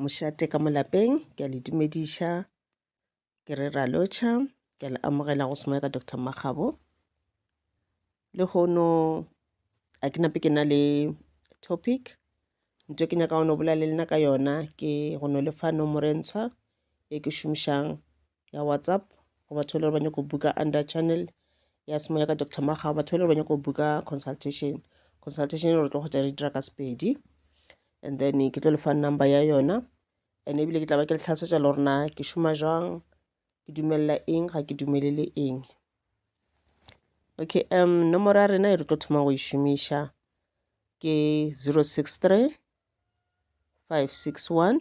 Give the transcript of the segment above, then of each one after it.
Mošate ka molapeng, ke a le dumediša. Ke re ra lotšha, ke a le amogela go semoya ka Dr Makgabo. Le hono a ke nape ke na le topic nto ke nyaka go no bolela le nna ka yona ke go no lefa nomoro e ntshwa e ke šomišang ya whatsapp go batho ba le ba nyako buka under channel ya semoya ka dr maga batho ba le ba nyako buka consultation consultation re tlo go tša re dira ka sepedi and then ke tlo le fa number ya yona and ebile ke tla ba ke le tlhalosetša le gorena ke šoma jang ke dumelela eng ga ke dumelele eng okay um nomoro ya rena e re tlo thoma go e šomiša ke 063 561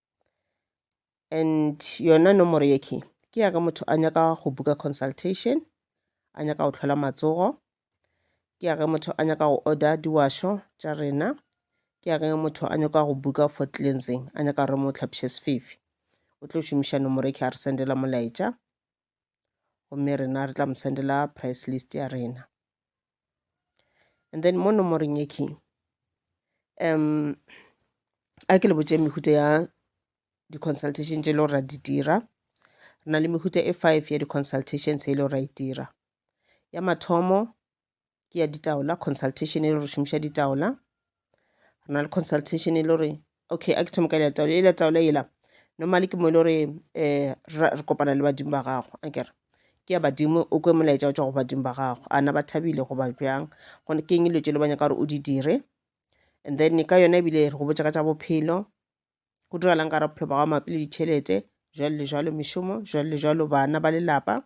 and yona nomoro ye key ke ya ka motho a nyaka go buka consultation a nyaka go tlhola matsogo ke ya ge motho a nyaka go order diwašo tša rena ke ya ge motho a nyaka go buka for cleansing a nyaka re mo tlhapše sefefi o tlo šomiša nomoro e ke a re sendela molaetša gomme rena re tla mo sendela price list ya rena and then mo nomoreng ye king um a ke le botse mehuta ya di-consultation tše e le gore ra di dira re na le mehuta e five ya di-consultations e le gore ra e dira ya mathomo ke ya ditaola consultation e le gore šomiša ditaola re na le consultation e le gore okay a ke thoma ka letaola e letaola ela normally ke mo e le gore um eh, re kopana le badimo ba gago a kere ke ya badimo o kwe molaetša o tswa go badimo ba gago ana ba thabile goba bjang gone ke eng dilo tše le banyaka gore o di dire and then ka yona ebile re go botša ka tša bophelo go diragalang ka ra bophelo ba gago mabapi le ditšhelete jwale le jwalo mešomo jwale le jwalo bana ba lelapa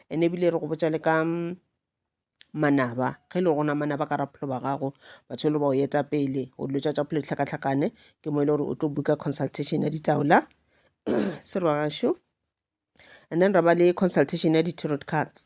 ene ebile re go botsa le ka mm, manaba ge e le gona manaba ka ra bophelo ba gago batho e le ba o eta pele o dilo tša tša bophelo ditlhakatlhakane ke mo e le gore o tlo buka consultation ya ditaola sorry ba gašo and then ra ba le consultation ya di-tarot cards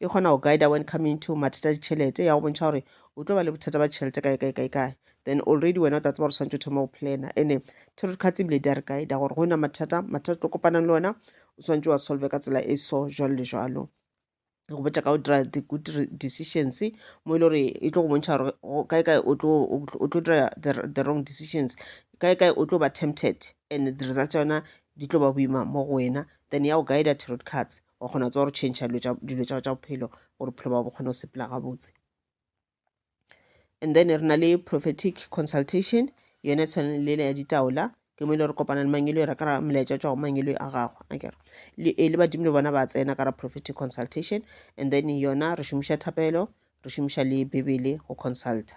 e kgona go guida when coming to mathata a ditšhelete ya go bontšha gore o tlo ba le bothata ba tšhelete kae kae kae kae then already wena o tla tseba gore tshwanetse o thoma go plana ene tarot cards ebile di a re guida gore go na mathata mathata tlo kopanang le ona o tshwanetse wa solve ka tsela e so jalo le jalo go botša ka go dira the good decisions mo e le gore e tlo go bontšha gore kae kae o tlo dira the wrong decisions kae kae o tlo ba tempted and the results yona di tlo ba boima mo go wena then ya go guida tarot cards wa kgona tsa gore change dilo tsa tsa bophelo gore bophelo ba bo kgone go sepela gabotse and then re na le prophetic consultation yone tshwane le ya ditaola ke mo ile re kopana le mangelo ra kara molaetša tšwa go mangelo a gagwe akere e le badimo le bona ba tsena kara prophetic consultation and then yona re šomiša thapelo re šomiša le bebele go consulta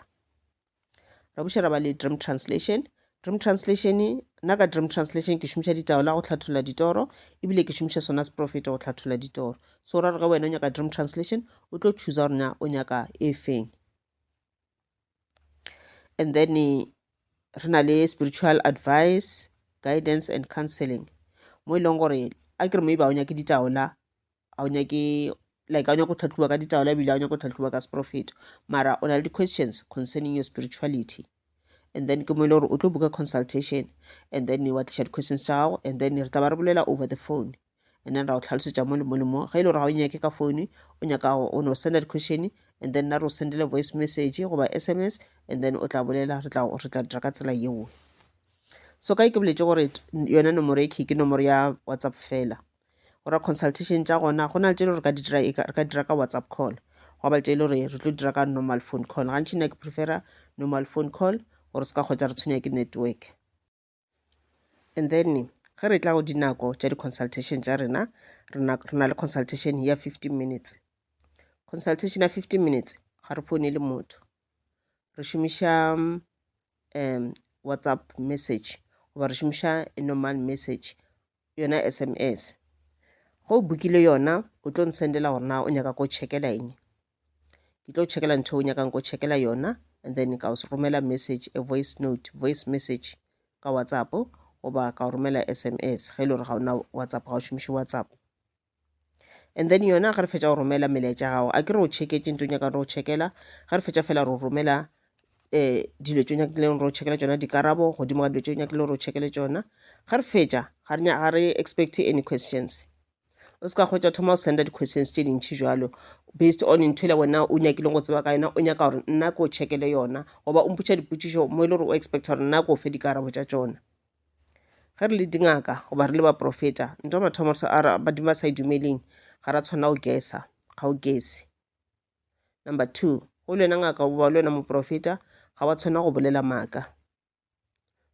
ra buša ra ba le dream translation dream translation nna ka dream translation ke šomiša ditaola go hlatholla ditoro ebile ke šomiša sona seprofeto go hlatholla ditoro so ra re ge wena o nyaka dream translation o tlo choosa gore na o nyaka e feng and then eh, re na le spiritual advice guidance and counseling mo e leng gore a ke re mo e ba o nyake ditaola a o nyake like a o nyake go tlhatlhoba ka ditaola ebile a o nyake go tlhatlhoba ka seprofeto mara o na le di-questions concerning your spirituality and then ke mo e le gore o tlo buka consultation and then wa tliša di-questions tša gago and then re tla ba re bolela over the phone and then ra o tlhalosetša mo le mo le mo ge e le gore ga o nyake ka phone o nyaka go o no senda di-question and then na re o sendele voice message goba s m s and then o tla bolela re tla re tla dira ka tsela yeo so ka e ke boletse gore yone nomoro e key ke nomoro ya whatsapp fela go ra consultation tša gona go na le tše le gore ka di dira e re ka dira ka whatsapp call go ba tše le gore re tlo dira ka normal phone call gantši nna ke prefera normal phone call gore se ka kgwetsa re tshwenya ke network and then ge re tla go dinako tša di-consultation tša rena re na le consultation ya fifteen minutes consultation ya fifteen minutes ga re fone le motho re šomiša um whatsapp message goba re šomiša normal message yona sms go o bukile yona o tlo nsendela gore na o nyaka ko checkela eng ke tlo checkela ntho o nyakang ko checkela yona and then ka o romela message a voice note voice message ka whatsapp goba ka o romela sms ge e le gore ga ona whatsapp ga o šomiše whatsapp and then yona ge re fetša go romela melaetša gago a ke re o checketše nto nyaka re o checkela ge re fetša fela re romela um dilo tse nyakileng re o checkela tsona dikarabo godimo ga dilo tse nyakileng re o checkele tsona ge re fetša ga re expect any questions o se ka kgwetsa thoma o senda di-questions tse dintšhi jalo based on ntho ele wena o nyakileng go tseba ka yona o nyaka gore nna ke o checkele yona goba o mpotša dipotšišo mo e le gore o expecta gore nna ke o fe dikarabo tša tsona ge re le dingaka goba re le baprofeta nto mathomo sa ara badimo ba sa e dumeleng ga ra tshwanela go gesa ga o gese number two go le wena ngaka goba le wena moprofeta ga wa tshwanela go bolela maaka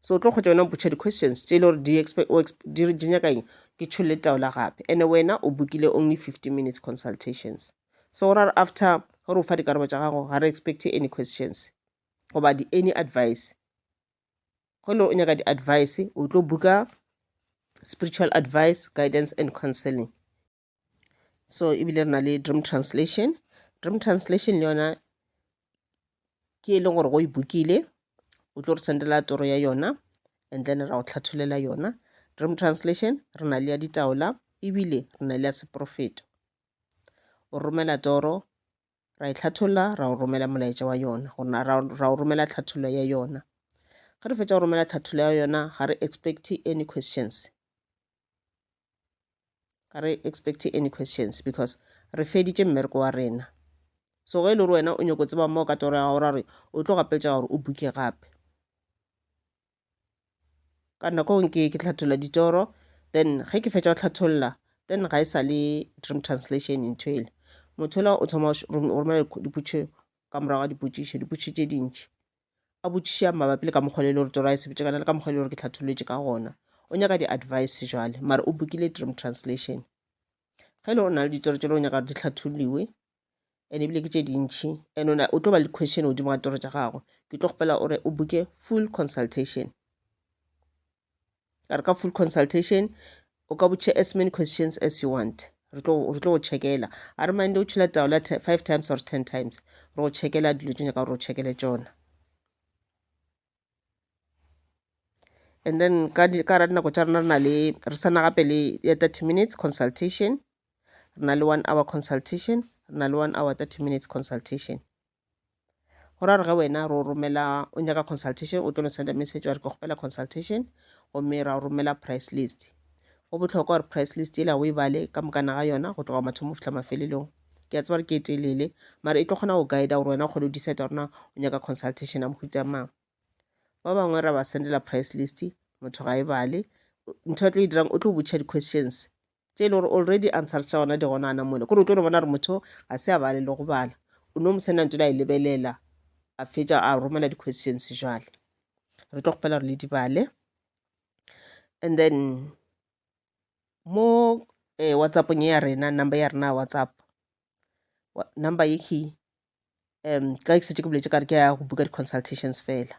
so o tlo kgotsa wena mpotšha di-questions tše e le gore di expe- o exp- di re- di nyaka eng ke tšholole taola gape and wena o bokile only 15 minutes consultations so ra re after gore o fa dikarabo tša gago ga re expect any questions goba di any advice go ne o nyaka di-advice o tlo booker spiritual advice guidance and counseling so ebile re na le dream translation dream translation le yona ke e leng gore go e bookile o tlo re sendela toro ya yona and then ra go tlhatholela yona dream translation re na le ya ditaola ebile re na le ya seporofeto o romela toro ra e hlatholla ra o romela molaetša wa yona gona ra, ra o romela tlhathollo ya yona ge re fetša go romela tlhathollo ya yona ga re expect any questions ga re expect any questions because re feditše mmereko wa rena so ge e le gore wena o nyako tseba mo ka toro ya gago ra re o tlo gapeletša gore o buke gape ka nako nke ke tlhatholla ditoro then ge ke fetša go tlhatholla then ga e sa le dream translation ntho ele motho ola o thoma o romela dipotšišo ka morago ga dipotšišo dipotšišo tše dintši a botšiša mabapi le ka mokgwa le gore toro a e sebetše kana le ka mokgwa le gore ke tlhatholotše ka gona o nyaka di-advice jale mara o bokile dream translation ge e le gore o na le ditoro tše le o nyaka gore di tlhatholiwe and ebile ke tše dintšhi and ona o tlo ba le question godimo ga toro tša gagwe ke tlo kgopela gore o buke full consultation ka re ka full consultation o ka botše as many questions as you want re tlo go checkela a re mande o tšhula taola five times or ten times re go checkela dilo tse nyaka gore o checkele tsona and then ka gare dinako tša rena re na le re sa na gape le ya thirty minutes consultation re na le one hour consultation re na le one hour thirty minutes consultation go ra re ge wena ro romela o nyaka consultation o tlo no send a message wa re ke kgopela consultation gomme ra romela price list go bohlokwa gore price list yela o e bale ka mokana ga yona go tloga mathomo go fihla mafelelong ke a tseba re ke e telele mara e tlo kgona go guide gore wena o kgone go decide gorena o nyaka consultation ya mohuta mang ba bangwe ra ba sendela price list motho ga e bale ntho ya tlo e dirang o tlo botšha di-questions tše e le gore already answers tša gona di gona ana mole kore o tlo no bona gore motho ga se a bale le go bala o no mo senda ntse la e lebelela a fetša a romela di-questions jale re tlo kgopela gore le di bale and then mo eh, whatsappong ya rena number ya rena ya whatsapp Wa- number ye ke um ka ke setse ke boletse kare ke ya go buka di-consultations fela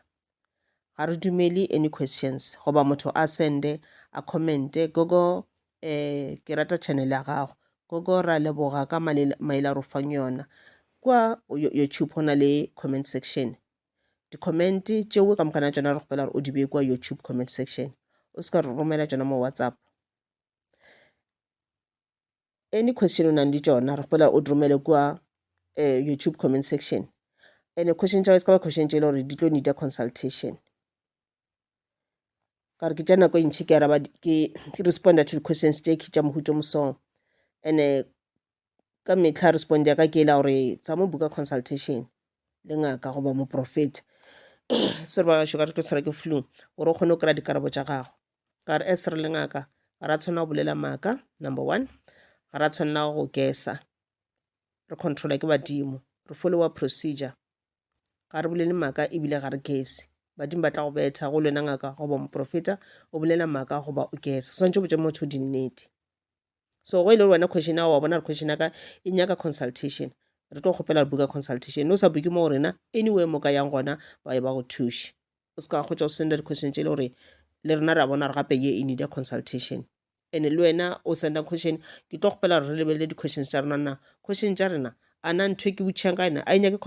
ga re dumele any questions goba motho a sende a commente gogo um ke rata channel ya gago gogo ra leboga ka malela- maele a re o fang yona kua yo- youtube go na le comment section di-comment tšeo ka mokana tšona re kgopela gore o di bee kua youtube comment section o se ka re romela tšona mo whatsapp any question o nang le tšona re kgopela o di romele kua um youtube comment section and question tša se ka ba question tše e le gore di tlo need a consultation ka re ke tša nako e ntšhi ke araba ke responda to di-questions tše ke tša mohuto mosong and-e ka mehla responde ya ka ke ela gore tsa mo buka consultation le ngaka goba moprofeta se re ba gašo ka re tlo tshwara ke flu gore o kgone go kry-a dikarabo tša gago ka re as re le ngaka ga ra tshwanela go bolela maaka number one ga ra tshwanela go kesa re controla ke badimo re followa procedure ga re bolele maaka ebile ga re kese badimo ba tla go betha go lwena ngaka goba moprofeta o bolela maaka goba o kesa o swantse o botse motho dinnete so go e le gore wena question ya wa bona re question ya ka e nyaka consultation re tlo kgopela re buka consultation ne o sa buke mo go rena anyway mo ka yang gona ba ye ba go thuše o se ka kgotsa o senda di-question tše e le gore le rena re a bona re gape ye e need ya consultation and le wena o sendang question ke tlo kgopela gore re lebelele di-questions tša rena na question tša rena a na ntho e ke botšhang ka ena a e nyake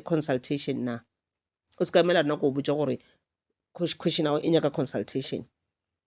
consultation na o se ka emela rena ko o botša gore question ao e nyaka consultation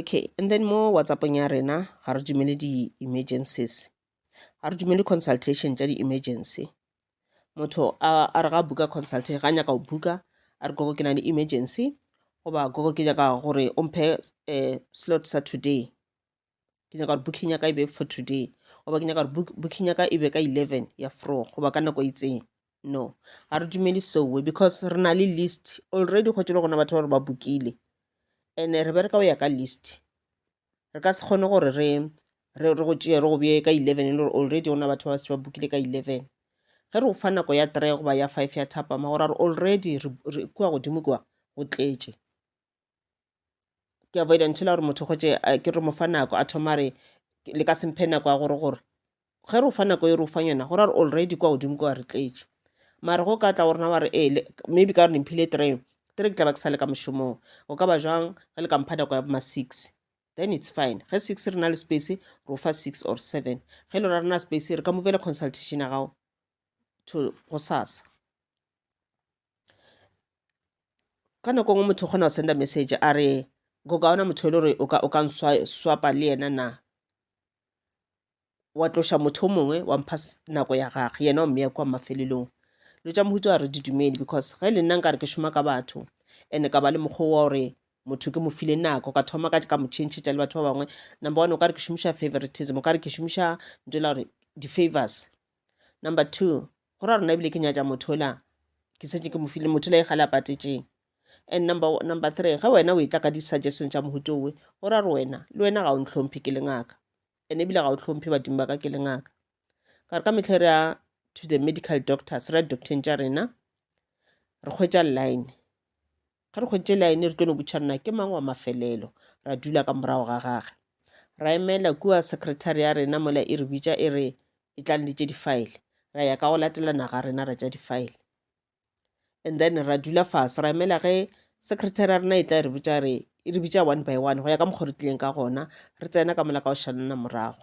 okay and then mo whatsappong ya rena ga re dumele di-emergencies ga re dumele consultation tša di-emergency motho a re ga buka consultation ga nyaka go buka a re gogo ke na le emergency goba gogo ke nyaka gore o mphe um slot sa today ke nyaka gore booking ya ka e be for today goba ke nyaka gore booking ya ka e be ka eleven ya fro goba ka nako itseng no ga re dumele soe because re na le list already go tšele gona batho ba re ba bookile and re bereka go ya ka list re ka se kgone gore re re re go tšeye re go beye ka eleven e le gore already gona batho ba se ba bookile ka eleven ge re go fa nako ya three goba ya five ya thapama gore re already kua godimo kua go tletše ke avoida ntho la gore motho gotse ke re mo fa nako a thoma re le ka semphe nako ya gore gore ge re o fa nako e re o fang yona gore a re already kwa godimo kwa re tletše mare go ka tla go rena wa re ee maybe ka gore nemphile three three ke tla ba ke sa le ka mošomong o ka ba jwang ge le ka mpha nako ya boma six then it's fine ge six re na le space re o fa six or seven ge e le ra rena space re ka movele consultation ya gago to go sasa ka nako nngwe motho o kgona go senda message a re go ka ona motho e le gore o ka nswapa le yena na wa tloša motho o mongwe wa mpha nako ya gage yena o mmeya kwa mafelelong dilo tša mohuta wa re di dumele because ge le nna nka re ke šoma ka batho and-e ka ba le mokgwa wa gore motho ke mo file nako ka thoma ka ka mo changetša le batho ba bangwe number one o ka re ke šomiša favoritism o ka re ke šomiša nto la gore di-favors number two go ra rona ebile ke nyatša motho ola ke setse ke mo file motho la e gale a patetšeng and number, number three ge wena o e tla ka di-suggestion tša mohuto owe go ra re wena le wena ga o ntlhomphe ke le ngaka and ebile ga o tlhomphe badimo ba ka ke le ngaka ka re ka metlhe re ya to the medical doctors re ya docteng tša rena re kgwetša line Ge re hweditše laene re tlo no butšha nna ke mang wa mafelelo, ra dula ka morago ga gage. Ra emela kua sekretari ya rena mola e re bitša e re e tlang le tše difaele. Ra ya ka go latelana ga rena ra tša difaele. And then ra dula fase ra emela ge sekretari ya rena e tla e re botša re e re bitša one by one go ya ka mokgwa re tlileng ka gona re tsena ka mola ka go šanana morago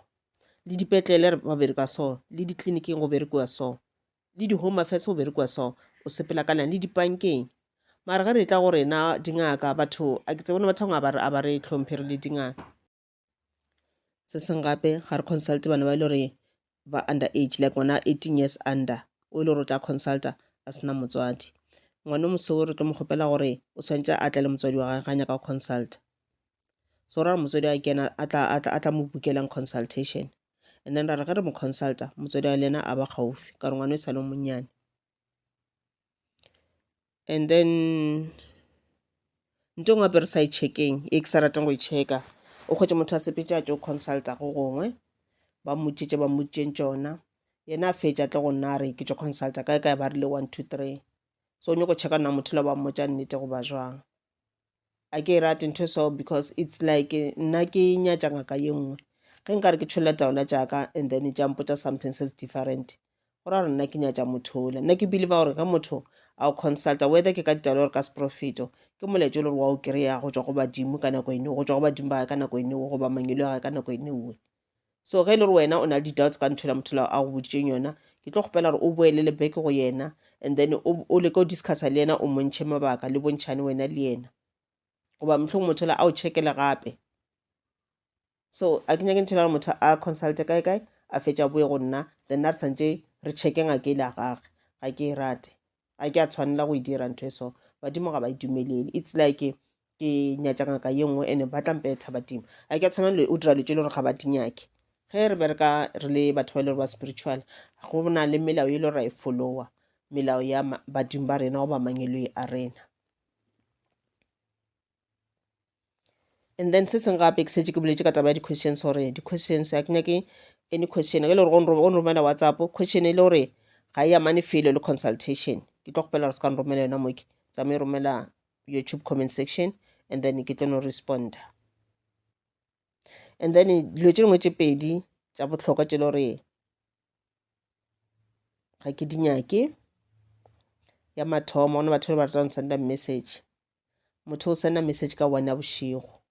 le dipetlele ba berekwa so le ditleliniking go berekiwa so le di home affairs go berekwa so o sepela kana le dipankeng mara ge re tla go rena dingaka batho a ke tsebone batho ba a ba re tlhomphe re le dingaka se seng gape ga re consult bana ba e le gore ba under age like ngwana 18 years under o e le gore o tla consulta a sena motswadi ngwana o moseo re tlo mo kgopela gore o tshwanetse a tle le motswadi wa gage ga nyaka go consulta so ra re motswadi a kena a tla a tla a tla mo bookelelang consultation and then ra re ge re mo consulta motswadi wa le yena a ba gaufi ka re ngwana e sa le monnyane and then nto ngwe gape re sa e checkeng e ke sa rateng go e checka o kgwetse motho a sepetse a tšo consulta go gongwe ba mmotšitše ba mmotšeng tšona yena a fetša tle go nna a re ke tšo consulta kae kae ba rile one two three so o nyako checka nna motho la ba mmotša nnete goba jwang a ke e rate ntho so because it's like nna ke nyatša ngaka ye nngwe ge nka re ke tšholela taola jaaka and then tša mpotsa something se se different go ra gore nna ke nyatša motho ole nna ke believe gore ge motho a o consulta whether ke ka ditaolo gore ka seprofeto ke moletšo le gore wa o kry-a go tswa go badimo ka nako ene go tswa go badimo ba gae ka nako ene goba mangelo a gae ka nako ene oe So ge e le gore wena o na le di-doubts ka ntho la motho la a go boditseng yona ke tlo kgopela gore o boele le beke go yena and then o leke o discussa le yena o montšhe mabaka le bontšhane wena le yena goba motlhong motho la a o checkele gape so a ke nyake ntho la gore motho a consulte kae kae a fetša boye go nna then na re santše re checke ngake ile a gage ga ke e rate a ke a tshwanela go e dira ntho e so badimo ga ba e dumelele it's like ke nyatša ngaka ye nngwe ene ba tla mpe tshaba dimo a ke a tshwana le o dira le tse le gore ga ba di nyake ge re bereka re le batho ba e le gore ba spiritual go na le melao e le gore ra e followa melao ya ma- badimo ba rena goba mangeloi a rena and then se seng gape ke setse ke boletse ka taba ya di-questions gore di-questions a ke nyake any question ge le gore go nromela whatsapp question e le gore ga e amane felo le consultation ke tlo kgopela gore se ka nromela yona moke tsamaye romela youtube comment section and then ke tlo no responda and then dilo tše dingwe tše pedi tša bohlokwa tše le gore ga ke di nyake ya mathomo gona batho ba ba ratang senda message motho o sena message ka one ya bošego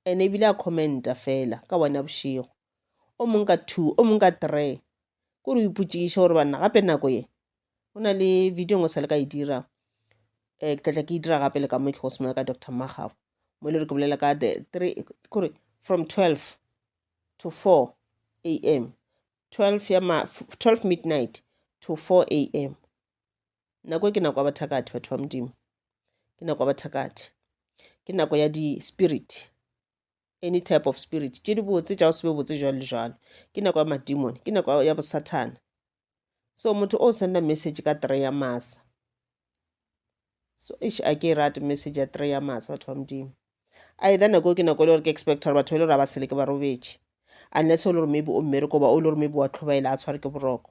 ene ebile a commenta fela ka one ya bošego o mong ka two o mong ka three ko re o ipotšiše gore banna gape nako ye go na le video ngwe sa le ka e dira um ke tlatla ke e dira gape le ka mo ke go semola ka doctor magago mo e le gore ke bolela ka the three kore from twelve to four a m twelve ya ma twelve midnight to four a m Nako e ke nako ya bathakati, batho ba Modimo. Ke nako ya bathakati. Ke nako ya di-spirit, any type of spirit. Tše di botse tša go se be botse jwalo le jwalo. Ke nako ya madimone, ke nako ya bosathana. So motho o senda message ka three ya masa. So ish a ke e rate message ya three ya masa batho ba Modimo. Either nako e ke nako e le gore ke expect gore batho ba e le gore ba seleke ba robetše. Unless o le gore maybe o mmereko goba o le gore maybe wa tlhobaela a tshware ke boroko.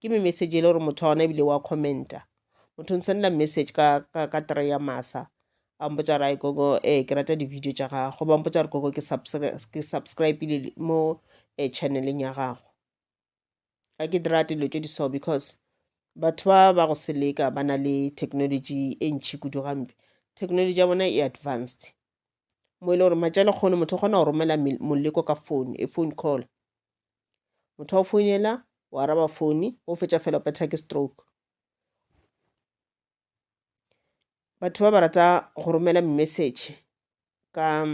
ke me message ele gore motho wa gona ebile wa commenta motho nsendela message ka, ka, ka try ya masa a mpotsa gore ai gogo eh ke rata di-video tša gago ba mpotsa gore gogo ke subscri- ke subscribile mo eh, channeleng ya gago ga ke di rate dilo tše di so because batho ba ba go seleka ba na le technology e ntšhi kudu gampe technology ya bona e advanced mo e le gore matša lekgono motho o kgona go romela mel- moleko ka phone e phone call motho wa founela o araba fone o fetša fela o phetha ke stroke batho ba ba rata go romela message ka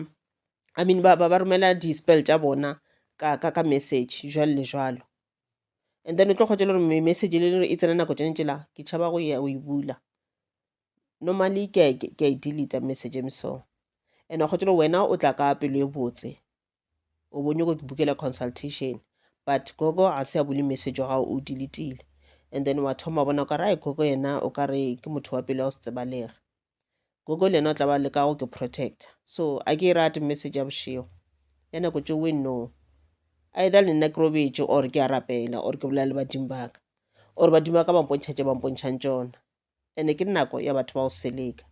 i mean ba, ba, ba romela di-spell tša bona ka, ka, ka message jwalo le jwalo and then o tlo kgotsa le gore message le e tsena nako tšone tsela ke tšhaba go ya go e bula normally ke a e delete message e meso and wa kgotsa wena o tla ka pelo e botse o bo nyoko ke bukela consultation but gogo ga se a bule message wa gago o diletile and then wa thoma bona o ka rae gogo yena o ka re ke motho wa pele wa go se tsebalega gogo le yena o tla ba leka go ke protector so a ke e rate message ya bošego ya nako tse we no either le nna ke robetše or ke a rapela or ke bolela le badimo baka or badimo ba ka bampontšha tše bampontšhang tsona ene ke nako ya batho ba go seleka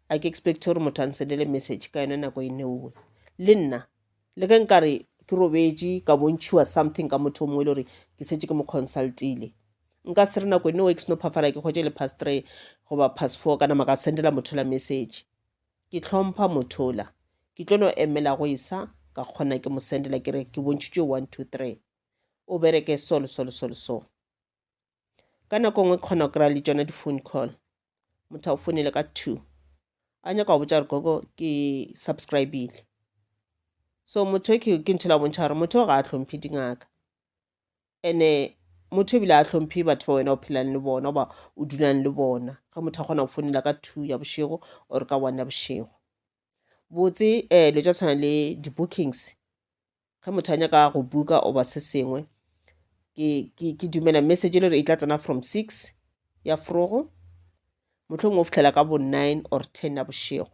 a ke expect gore motho a nsendele message ka yone nako e neuwe le nna le ge nkare ke robetše ka bontšhiwa something ka motho o mongwe e le gore ke setse ke mo consultile nka se re nako e neuwe ke seno phafala ke kgwetse le past three goba past four kana maka sendela motho la message ke tlhompha motho la ke tlo no emela go isa ka kgona ke mo sendela ke re ke bontšhitšwe one two three o bereke so le so le so le so ka nako nngwe kgona go kry-a le tšona di-phone call motho a go founele ka two a nyaka go botša gore gogo ke subscribile so motho e ke ntho la bontšha gore motho o ga a tlhomphe dingaka ene motho ebile a tlhomphe batho ba wena o phelang le bona oba o dulang le bona ge motho a kgona go founela ka two ya bošego or ka one ya bošego botse um eh, lo tša tshwana le di-bookings ge motho a nyaka go buka oba se sengwe ke dumela message e le gore e tla tsena from six ya frogo motlhong o fitlhela ka bo nine or ten ya bošego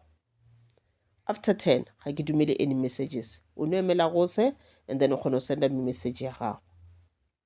after ten ga ke dumele any messages o no emela gose and then o kgona go senda me message ya gago